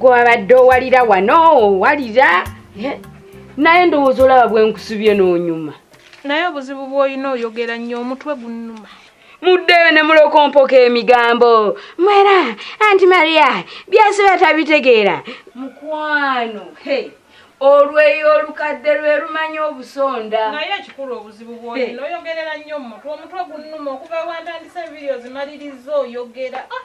gwabadde owalira wano owalira naye ndowooza olaba bwenkusubye n'onyuma naye obuzibu bw'olina oyogera nnyo omutwe gunnuma muddeyo ne mulokompoka emigambo mwera anti maria byasiba tabitegeera mukwano hey. olweyo olukadde lwe lumanya obusonda naye ekikulu obuzibu bwoyina oyogerera nnyo mumutwe omutwe gunuma okuva wantandise vidio zimalirizza oyogera ah!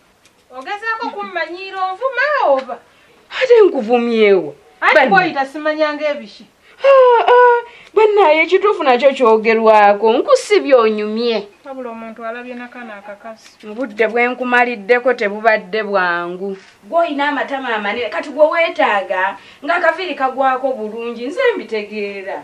Ogezaako kummanyiira onvuma oba? Ate nkuvumyewo. Ate bwoyita simanyanga ebiki. Ah, ah, bannaaye ekituufu nakyo kyogerwako nkusibye onyumye. Wabula omuntu alabye nakano akakazi. Obudde bwe nkumaliddeko tebubadde bwangu. Gw'olina amatama amanene kati gwe weetaaga ng'akaviiri kagwako bulungi nze mbitegeera.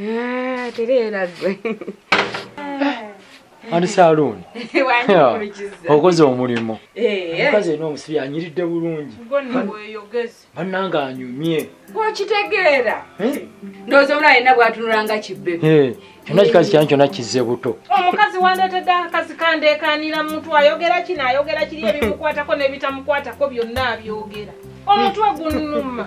Ah, tereera gwe ani saluuni okoze omulimu eh, eh. omukazi ena omusibi anyiridde bulungi bannanga anyumye gwokitegeera eh? ndowooza omula alina bwatunulanga kibbe kyonna kikazi kyani kyonna kizze buto omukazi wandeetedde akazi kandeekaanira muntu ayogera kino ayogera kiri ebimukwatako n'ebitamukwatako byonna abyogera omutwe gunuma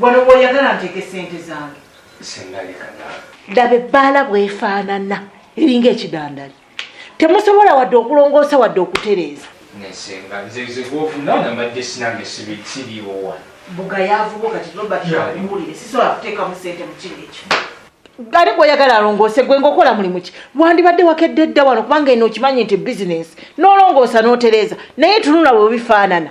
Wano woyagala nteeke sente zange. Sendalika naawe. Laba ebbaala bwefaanana eringa ekidandali. Temusobola wadde okulongoosa wadde okutereeza. Nesenga nze nze gwofuna nga mbadde sinange siriiwo wano. Bugayaavu bwo kati Robert akuwulire sisobola kuteekamu sente mu kino ekyo. Gari gwoyagala alongoose gwe ngaokola mulimu ki wandibadde wakedde dda wano kubanga eno okimanyi nti bizinensi nolongoosa n'otereeza naye tunula bwe bifaanana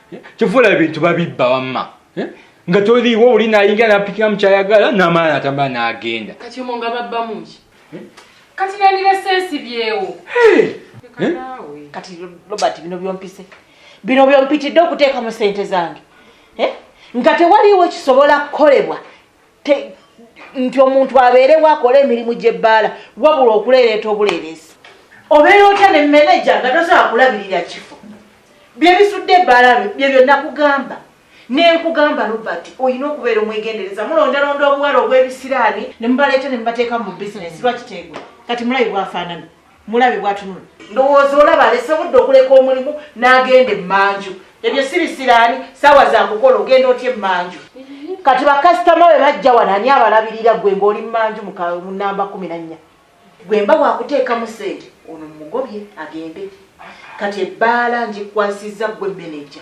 kyofuula ebintu babibba wamma eh? nga toliiwo oli nayingira napikira mukyayagala namala natambula nagenda kati omo nga babbamuki eh? kati nandiresensibyewo eh? kati robert bino byompise bino byompitidde okuteekamu sente zange nga tewaliiwo kisobola kukolebwa nti omuntu abeerewo akola emirimu gy'ebbaala wabula okuleereeta obuleereesi obeera otya ne meneja nga tosobola kulabirira kifo byebisudde ebbaala bye byonna kugamba nenkugamba robert olina okubeera omwegendereza mulondalonda obuwala obw'ebisiraani ne mubaleeta ne mubateeka mu bizinesi lwakiteegwa kati mulayi bwafaanana mulabe bwatunula ndowooza olaba alese budde okuleka omulimu n'agenda emmanju ebyo si bisiraani saawa zakukola ogenda otya emmanju kati bakasitoma we bajja wano ani abalabirira gwe ngaoli mumanju mu namba kumi na nnya gwe mba wakuteekamu sente ono mumugobye agende kati ebbaala ngikwasizza gwe meneja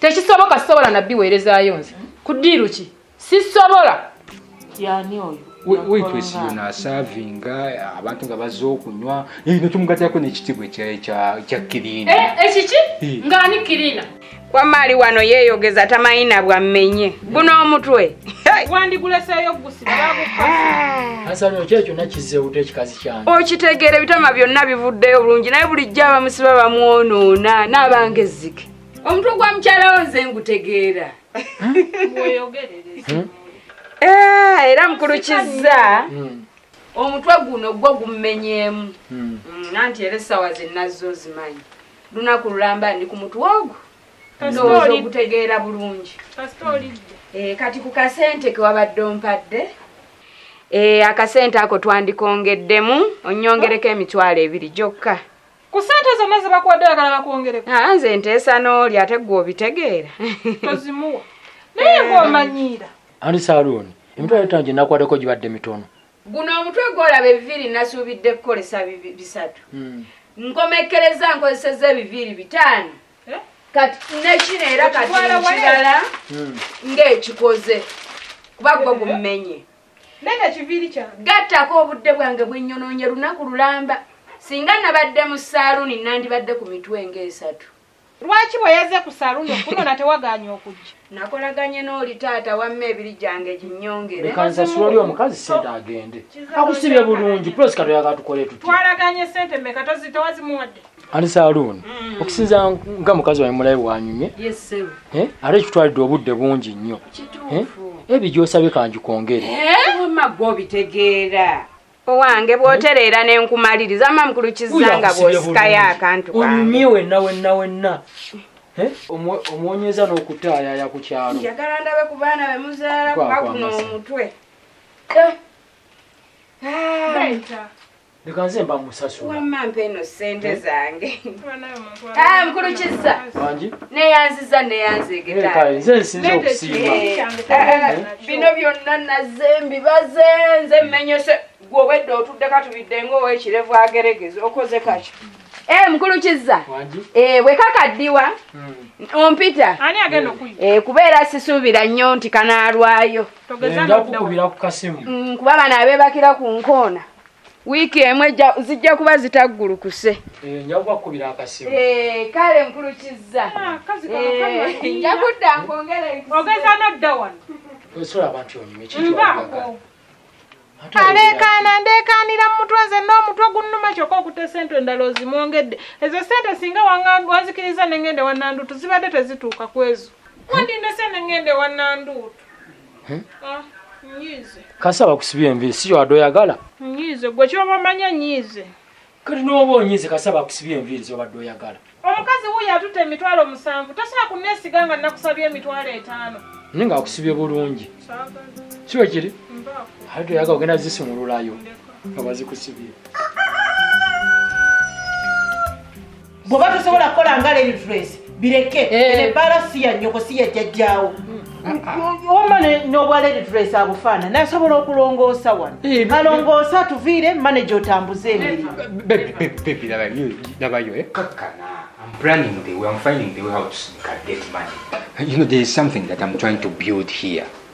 tekisoboka sisobola nabbi weerezayo nze ku ddiiru ki sisobola yani oyo witwesiyona asavinga abantu nga baza okunywa nekyomugatako nekitibwa kya kirina eh, ekiki eh. ngaani kirina kwamaali wano yeyogeza tamanyi na bwammenye guno omutwe wandiguleseeyo okitegeera ebitama byonna bivuddeyo bulungi naye bulijjo abamusiba bamwonoona n'abange ezzike omutwe gwa mukyala wo nze ngutegeera hmm? eh, era mukulu kizza hmm. omutwe guno gwo gummenyeemu hmm. nanti era essaawa zenazzo ozimanyi lunaku lulamba ndi ku mutwe ogwo ndowooza ogutegeera bulungi eh, kati ku kasente kewabadde ompadde eh, akasente ako twandikongeddemu onyongereko emitwalo ebiri gyokka ku ssente zonna ze bakuwadde oyagala bakwongereko aa nze nteesa n'oli ate ggwe obitegeera tozimuwa naye ng'omanyiira ani saluuni emitwalo etaano gye nakuwadeko gibadde mitono guno omutwe gwolaba ebiviiri nasuubidde kukolesa bibi- bisatu Hmm. nkomekkereza nkozeseza ebiviiri bitaano Eh? kati nekino era kati Okitwala wala? nkirala Hmm. ng'ekikoze kuba gwe gummenye Nenda kiviiri kyange. Gattako obudde bwange bwe nyonoonye lunaku lulamba. Singa nabadde mu saaluuni nandibadde ku mitwe ng'esatu. Lwaki bwe yazze ku saaluuni okunona tewagaanye okujja? Nakolaganye n'oli taata wamma ebiri gyange ginyongere. Leka nsasula oli omukazi ssente agende. Akusibye bulungi, pulesi katoyagala tukole tutya? Twalaganye ssente mmeka towazimuwadde? ani saluuni mm. okusinza nga mukazi wae mulabe wanyumye eh? ate kitwalidde obudde bungi nnyo eh? ebyo gyosabye kangikwongere eh? owange bwotereera nenkumaliriza ma mukulu kizanga bwosikayo akantu onyumye wenna wenna wenna Eh? omwonyeza n'okutaayaya ku kyalo njagala ndabe ku baana be muzaala kuba guno omutwe eh. ah. leka nze mba musasulawamma mpa eno ssente eh? zange ah, mukulu kizza neyanziza neyanzegetanze eh, nsinza okusiima eh, bino byonna nazze mbibaze nze mmenyese gwe obwedde otudde katubidde ngaowekirevu ageregeza okoze kaki Eh mkulu kiza. Eh weka kadiwa. Hmm. Ompita. Ani agenda hmm. kuyi. Eh kubera sisubira nyo nti kanalwayo. Togeza ndo kubira ku kasimu. Mm kuba bana abebakira ku nkona. wiiki emu zijja kuba zitaggulukuse eh, eh, kale nkulukizza ah, eh, nja kudda nkwongeraogeza nodda wano aleekaana ndeekaanira mu mutwe nze n'omutwe gunnuma kyokka okuta esente endala ozimwongedde ezo sente singa wanzikiriza nengende wananduutu zibadde tezituuka ku ezo wandindese nengende wananduutu hmm? ah, kasi abakusibye enviiri si yowadde oyagala nyiize gwe kyoba omanya nyiize kati nooba onyiize kasi abakusibye enviiri zobadde oyagala omukazi wuyo atutte emitwalo musanvu tosobola kunneesiga nga nnakusabye emitwalo etaano naye nga akusibye bulungi kiwe kiri ate toyagala ogenda zisumululayo nga bazikusibye bwoba tosobola kukola nga lady dress bireke eh. ebaala si ya nyoko si ya jajjaawo wama nobwa lady dress abufaana nasobola okulongoosa wano eh, alongoosa tuviire maneja otambuze emirimunabayo eh? I'm planning the way, I'm finding the way how to get money. You know, there is something that I'm trying to build here.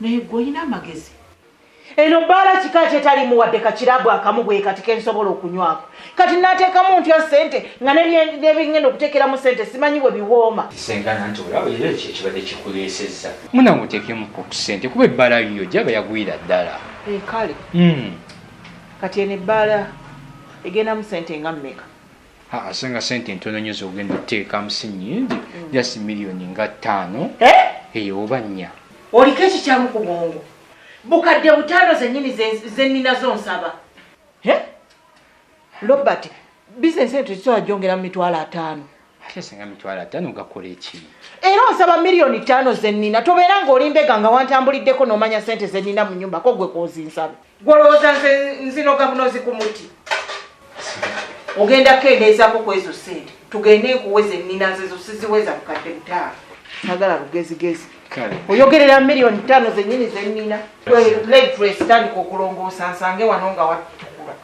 naye gwe olina amagezi eno bbaala kika kyetalimu wadde kakirabu akamu bwe kati kensobola okunywako kati nateekamu ntya sente nga nebingenda okuteekeramu sente simanyi bwe biwooma muna muteekemuko ku sente kuba ebbaala yiyo gyaba yagwira ddala eh, kale hmm. kati eno ebbaala egendamu sente nga mmeka Ah, so nga sente ntono nyo zogenda oteekamu si nyingi mm. just millioni nga ttaano eh? eyo eh, oba nnya oliko ekikyamu ku bwongo bukadde butaano zenyini zeninazo nsaba eh? robert bizinesi eyo tekisobola gyongera mu mitwalo ataano ate singa mitwalo ataano gakola eki era onsaba miliyoni ttaano zennina tobeera ng'oli mbega nga wantambuliddeko n'omanya sente zennina mu nyumba ko gwe kwozinsabe Gwolowooza nze nzinoga bunozi ku muti ogenda kendeezako ku ezo sente tugende nkuwe zennina zezo siziweza bukadde butaano sagala lugezigezi oyogerera miliyoni ttaano zennyini zennina tandika okulongoosa nsange wano nga watukula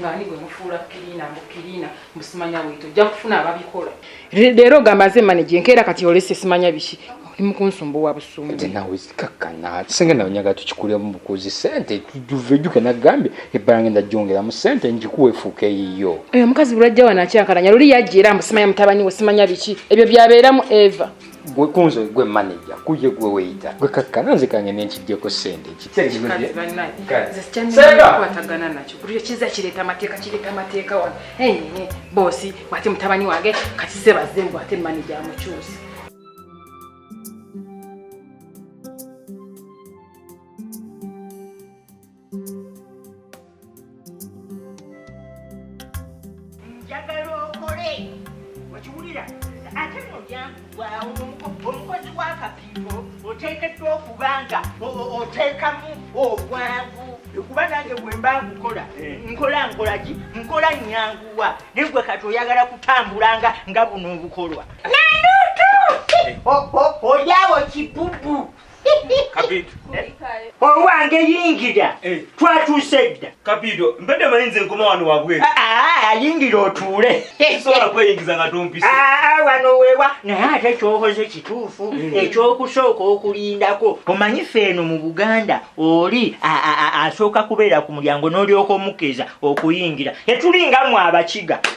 ngaani gwe mufuula kirina mbu kirina musimanya wito ojja kufuna ababikola leero ogamba nze manaje nkeera kati olese simanya biki oli mukunsumbuwa busumbu nawe kakkana singa nawe nyaga tukikulira mu bukuzi sente tuvejuke nagambye ebbala ngenda jongera mu sente njikuwa efuuka eyiyo oyo omukazi bulwajja wano akyankalanya luli yajja era mbusimanya mutabani we simanya biki ebyo byabeeramu eva gwe kunze gwe manager kuye gwe weita gwe kakkana nze kange nenkijjeko sente kikwatagana nakyo buli kiza kireeta amateeka kireeta amateeka wano boosi bwate mutabani wange kati ze bazze mbu ate manager amukyusi njagala okole okiwulira ate nolyangugwawo omukozi wakapiiro oteekeddwa okuba nga oteekamu obwangu kuba nange bwemba nkukola eh. nkola nkolaki nkola nyanguwa naye gwe kati oyagala kutambulanga nga buno obukolwa nandutu eh. olyawo kibubu kabido owange yingira eh. twatuuse dda kabido mbadde manyi nze nkoma wano wabweru ah, ah, ah, yingira otuule sobola kweyingiza nga tompisa wano wewa naye ate kyokoze kituufu mm. ekyokusooka okulindako omanyi fe eno mu buganda oli asooka kubeera ku mulyango n'olyoka omukeeza okuyingira etulinga mwe abakiga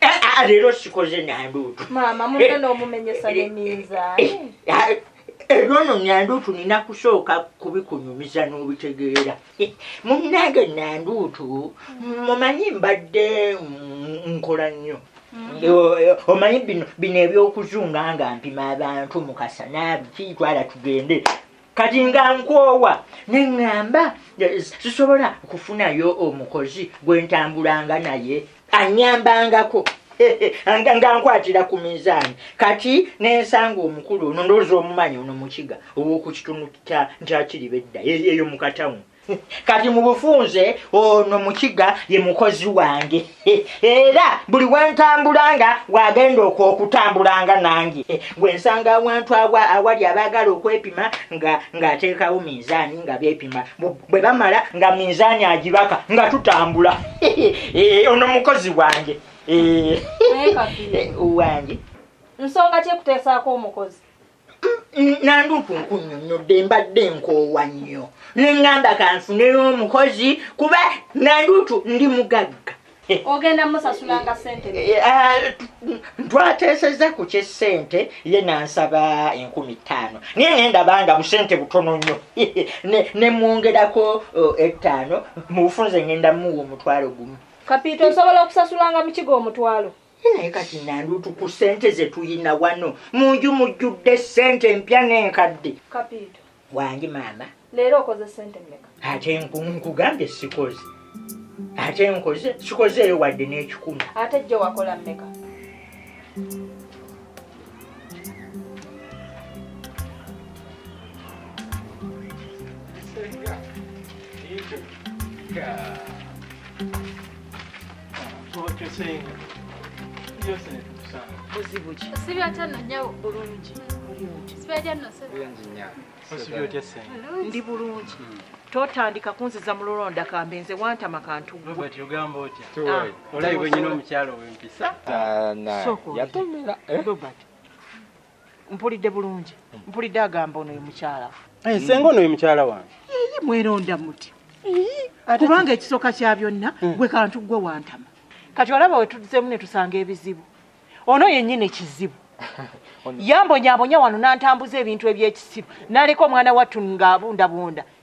Eh, ah, leero sikoze nanduutu maama munno n'omumenyesa ne minzaani ebyono nanduutu nina kusooka kubikunyumiza n'obitegeera munnange nanduutu mumanyi mbadde nkola nnyo mm-hmm. omanyi bino bino ebyokuzunga nga mpima abantu mukasa nabiki twala tugende kati nga nkoowa ne ŋŋamba sisobola kufunayo omukozi gwe ntambulanga naye anyambangako nga nkwatira ku minzaani kati nensanga omukulu ono ndowooza omumanyi ono mukiga ow'oku kitundu kya nkyakiriba edda eyo mu katawuni kati mubufunze ono mukiga ye mukozi wange era buli wentambulanga wagenda okwokutambulanga nange gwensanga awantu awa awali abagala okwepima nga ngateekawo minzaani nga bepima bwe bamala nga minzaani agibaka nga tutambula eh, ono mukozi wange eh, eh, wange nsonga kyekuteesaako omukozi nanduuku nkunyonyodde mbadde nkoowa nnyo nengamba kanfuneyo omukozi kuba nanduutu ndi mugagga ogenda musasulanga sente eh, eh, ah, twateesezza ku kyesente ye nansaba enkumi ttaano naye nendabanga busente butono nnyo nemwongerako oh, ettaano mubufunze ngenda muwa omutwalo gumu kapiita osobola okusasulanga mukiga omutwalo naye kati nandutu ku sente zetuyina wano munju mujjudde sente empya nenkadde kapiito wangi maama leero okoze sente meka ate nkugambye sikoze ate nkoze sikozeeyo wadde n'ekikumi ate jjo wakola meka Yeah. ndi bulungi totandika kunziza mululonda kambe nze wantama kantuyatomera mpulidde bulungi mpulidde agamba ono ye mukyala eh, senga ono ye mukyala wange ii mweronda muti kubanga ekisooka kya byonna hmm. gwe kantu gwe wantama kati olaba wetudzemu ne tusanga ebizibu ono yennyini ekizibu yambonyabonya wano nantambuza ebintu ebyekisiru naleka omwana wattu ngaabundabunda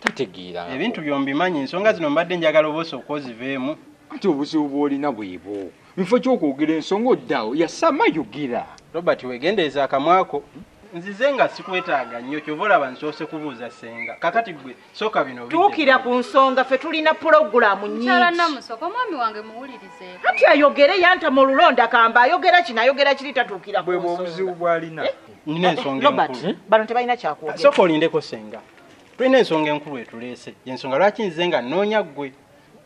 tategeera ebintu byombimanyi ensonga zino mbadde njagala obosa okwoziveemu ati obuzibu bwolina bwebwo mufo kyokwogera ensonga oddawo yasama yogera robert wegendereza akamwako nzize nga sikwetaaga nnyo kyova olaba nsoose kubuuza senga kakati gwe soka bino tuukira ku nsonga ffe tulina pulogulaamu nyingikati ayogere yantama olulonda kamba ayogera kino ayogera kiri tatuukira bwebwobuzibu bwalina eh? nina ensonga bano tebalina kyakwogera soka olindeko senga tulina ensonga enkulu etuleese yensonga lwaki nze nga nnoonya ggwe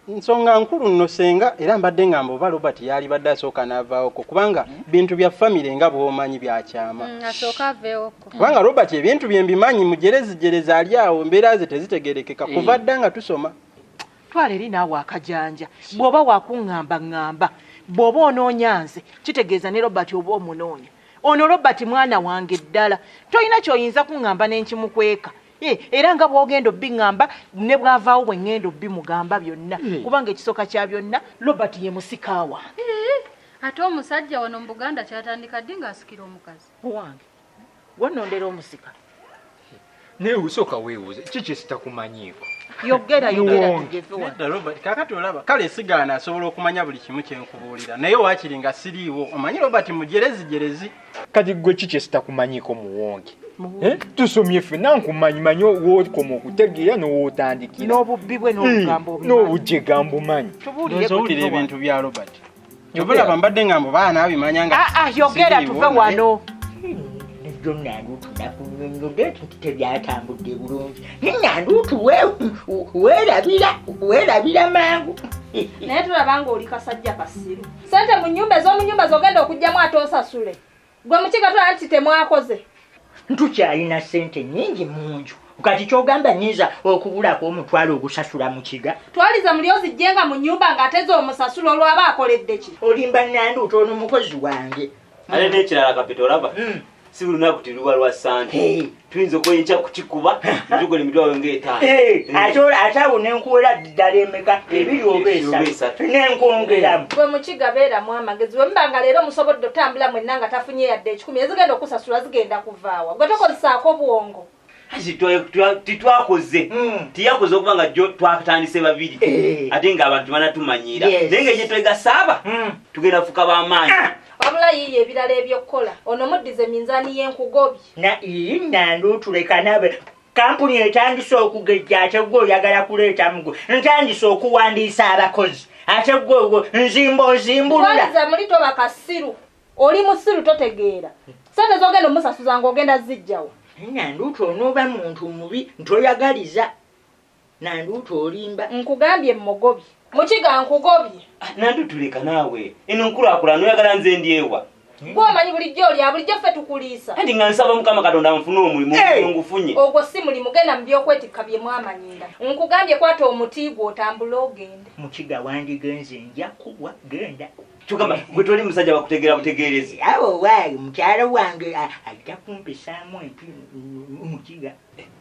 nsonga nkulu nno senga era mbadde ngamba oba robert yaalibadde asooka n'avaawoko kubanga bintu bya famire nga bwomanyi byakyama mm, kubanga robert ebintu bye mbimanyi mujerezijerezi ali awo embeera ze tezitegerekeka kuva eh. dda nga tusoma twala eri naawe akajanja bw'oba wakuŋŋamba ŋŋamba bw'oba onoonya nze kitegeeza ne robert oba omunoonya ono robert mwana wange ddala tolina kyoyinza kuŋŋamba ne nkimukweka eh, era nga bwogenda obiŋŋamba ne bwavaawo bwe ŋŋenda obimugamba byonna eh. kubanga ekisooka kya byonna robert ye musika wange eh, ate omusajja wano mu buganda kyatandika ddi ng'asikira omukazi owange wonondera omusika naye usooka weebuuze ki kyesitakumanyiiko yogera yogerakakati olaba kale sigaana asobola okumanya buli kimu kyenkubuulira naye waakiri nga siriiwo omanyi robert mujerezi jerezi kati gwe ki kyesitakumanyiiko muwonge eh? tusomye ffe nankumanyi manyi wokoma okutegeera nowotandikira n'obubbi bwe n'obugambo eh, obumanyi tubuulire ebintu bya robert Jovela mbadde ngambo baana abimanya nga Ah ah yogera tuve wano. Nijjo nanduutu nakunyonyode nti tebyatambudde bulungi. Naye nanduutu weerabira weerabira mangu. Naye tulaba ng'oli kasajja kasiru. Sente mu nnyumba ez'omu nnyumba z'ogenda okugyamu ate osasule. gwe mukiga tola nti temwakoze ntukyalina sente nyingi munju kati kyogamba nyinza okubulako omutwalo ogusasula mukiga twaliza muli ozijjenga mu nyumba nga ateza omusasula olwaba akoleddeki olimba nandu utono mukozi wange ale nekirala kapita olaba mm. si buli naku tiluba lwa sante hey. tuyinza okuba enkya kukikuba njugo ne mitwalo ngaetaano eh, eh. ate awo nenkuwera ddala emeka ebiri oba esatu nenkwongeramu gwe mukiga beeramu amagezi bwe muba nga leero musobodde otambula mwenna nga tafunye yadde ekikumi ezigenda okusasula zigenda kuvaawa gwe tokozesaako bwongo titwakoze hmm. tiyakoze okuba nga jo twatandise babiri eh. ate nga abantu banatumanyiira naye nga ekyetwegasaaba hmm. tugenda fuka bamaanyi ah! wabula yiiyo ebirala ebyokukola ono muddize minzaani yenkugobi na iyi nandu tuleka nabe kampuni etandise okugejja ate gwe oyagala kuleeta mugwe ntandise okuwandiisa abakozi ate gwe nzimba ozimbulula muli toba kasiru oli musiru totegeera sente zogenda omusasuza nga ogenda zijjawo nanduuti onooba muntu mubi ntoyagaliza nanduutu olimba nkugambye mmugobye mukiga nkugobye ah, nanduutu leka naawe eno nkulakulana oyagala nze ndyewa gwomanyi bulijjo olya bulijjo ffe tukuliisa andi nga nsaba mukama katonda nfune omulimu ngufunye ogwo si mulimu genda mu byokwetikka bye mwamanyinda nkugambye kwata omuti gwe otambule ogende mukiga wandigenze nja kubwa genda kyogamba gwe toli musajja bakutegeera butegeerezi awo waayi mukyalo wange ajja kumpisaamu empi mukiga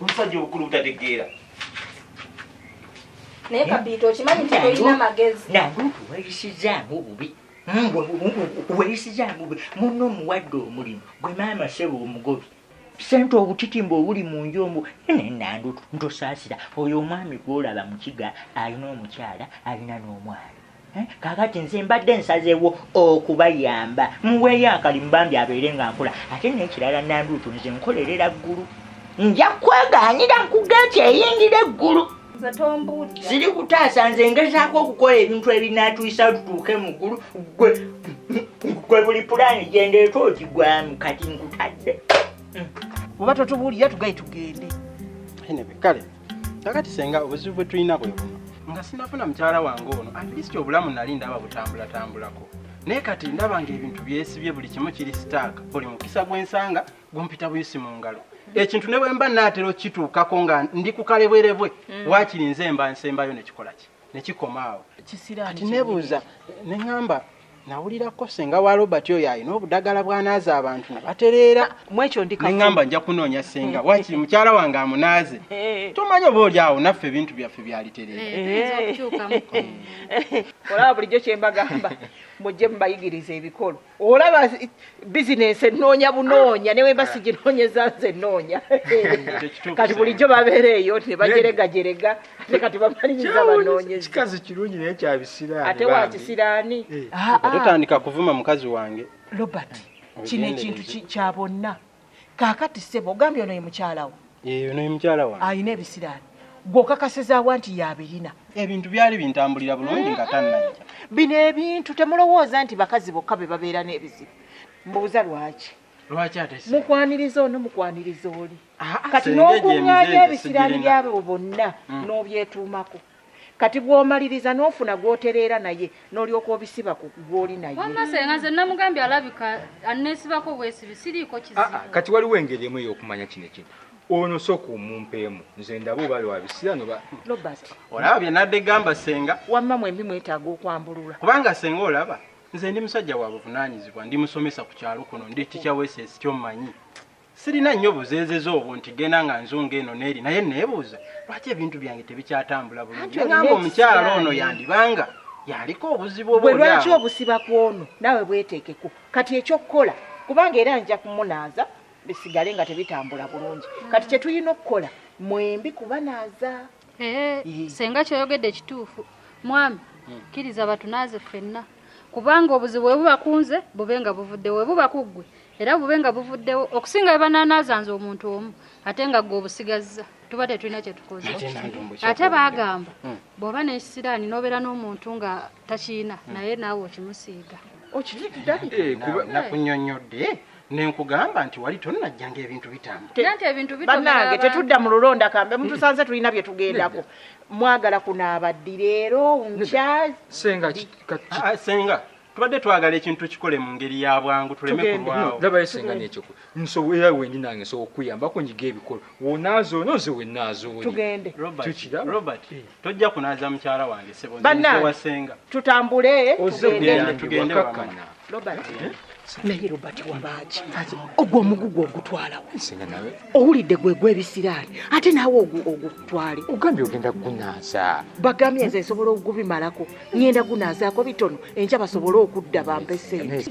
omusajja obukulu butategeera naye kabiita okimanyi nti tolina magezi nange otuwayisizaamu obubi weyisizaamu obubi munno omuwadde omulimu gwe maama sebo omugobi sente obutitimba obuli mu nju omu nenandu ntosaasira oyo omwami gwolaba mukiga alina omukyala alina n'omwana Eh, kakati nze mbadde nsazeewo okubayamba muweeyo akalimu bambi abeere nga nkola ate nekirala nanduutu nze nkolerera ggulu nja kwegaanira nkugeeti eyingira eggulu ziri kutaasa nze ngezaako okukola ebintu ebinatuisa tutuuke mu ggulu gwe gwe buli pulaani gyendeeta ogigwamu kati nkutadde oba totubuulira tugaye tugende kale kakati senga obuzibu bwe tulina bwe buno nga sinafuna mukyala wange ono at least obulamu nali ndaba butambulatambulako naye kati ndaba nga ebintu byesibye buli kimu kiri sitaaka buli mukisa gwensanga gumpita buyisi mu ngalo ekintu ne bwemba naatera okukituukako nga ndi ku kalebwerebwe mm. waakiri nze mba nsembayo nekikola ki nekikoma awo kati nebuuza neŋamba nawulira ko senga wa robert oyo alina obudagala bwanaaza abantu ne batereera mwekyo ndineŋamba nja kunoonya senga eh. wakiri mukyala wange amunaaze eh. tomanya oba oli awo naffe ebintu byaffe byalitereeraolaba eh, bulijjo kyembagamba mujje mubayigiriza ebikolo olaba bizinensi enoonya bunoonya newemba siginoonyeza nze enoonya kati bulijjo babeera eyo nebajeregajerega kikazi kirungi naye kyabisiraaniatewakisiraani eh. ah, ah. totandika kuvuma mukazi wange robert kino ekintu kya bonna kakati sebo ogambye ono ye mukyalawo eh, ono ye mukyala wa alina ebisiraani gwokakasizaawa nti yabirina ebintu byali bintambulira bulungi nga tannajja bino ebintu temulowooza nti bakazi bokka be babeera n'ebizibu mbuuza lwaki lwaki ate mukwaniriza ono mukwaniriza oli ah, ah, kati n'okuŋŋaanya ebisiraani byabo bonna hmm. n'obyetuumako kati bwomaliriza nofuna gwotereera naye nolyoka obisiba ku gwoli nayenamugambye alabika anesibako bwesibi siriiko kizibu ah, kati waliwo engeri emu eyokumanya kino ekintu ono soka omumpeemu nze ndaba oba wabisira noba olaba byenadde gamba senga wamma mwembi mwetaaga okwambulula kubanga senga olaba nze ndi musajja wa buvunanyizibwa ndi musomesa ku kyalo kuno ndi ticha weses kyommanyi sirina nnyo buzeezeza obwo nti genda nga nzunga eno neeri naye neebuuza lwaki ebintu byange tebikyatambula bulungi nagamba omukyalo ono yandibanga yaliko obuzibu obwe lwaki obusiba ku ono naawe bweteekeko kati ekyokukola kubanga era nja kumunaaza bisigale nga tebitambula bulungi kati kyetulina okukola mwembi kubanaaza Eh, mm. senga kyoyogedde kituufu mwami mm. kkiriza batunaaze ffenna kubanga obuzibu bwe buba kunze bube nga buvuddewo bwe buba kuggwe era bube nga buvuddewo okusinga bebananaaza nze omuntu omu ate nga gwe obusigazza tuba tetulina kyetukoze ate bagamba mm. bw'oba nekisiraani n'obeera n'omuntu nga takiina naye naawe okimusiiga okitiddakunyonyodde eh, nenkugamba nti wali tonajja ngaebintu bitambanange tetudda mu lulonda kambe mutusanze tulina byetugendako mwagala kunaaba ddi leero nkyasenga ah, ah, tubadde twagala ekintu kikole mu ngeri ya bwangu tuleme kulwawo labayo senga nekyo nsobola wendi nange nsobola okuyambako nyiga ebikolo wonaaza ono nze wenaaza oli tugende robert tojja kunaaza mukyala wange sebowasenga tutambule tugende wakakkana robert eh? naye robert wabaaki ogwo omugugu ogutwalawo owulidde gwe gwebisiraani ate naawe ogutwale ogambye ogenda gunaaza bagambye nze nsobola okugubimalako ngenda gunaazaako bitono enkya basobole okudda bampe sente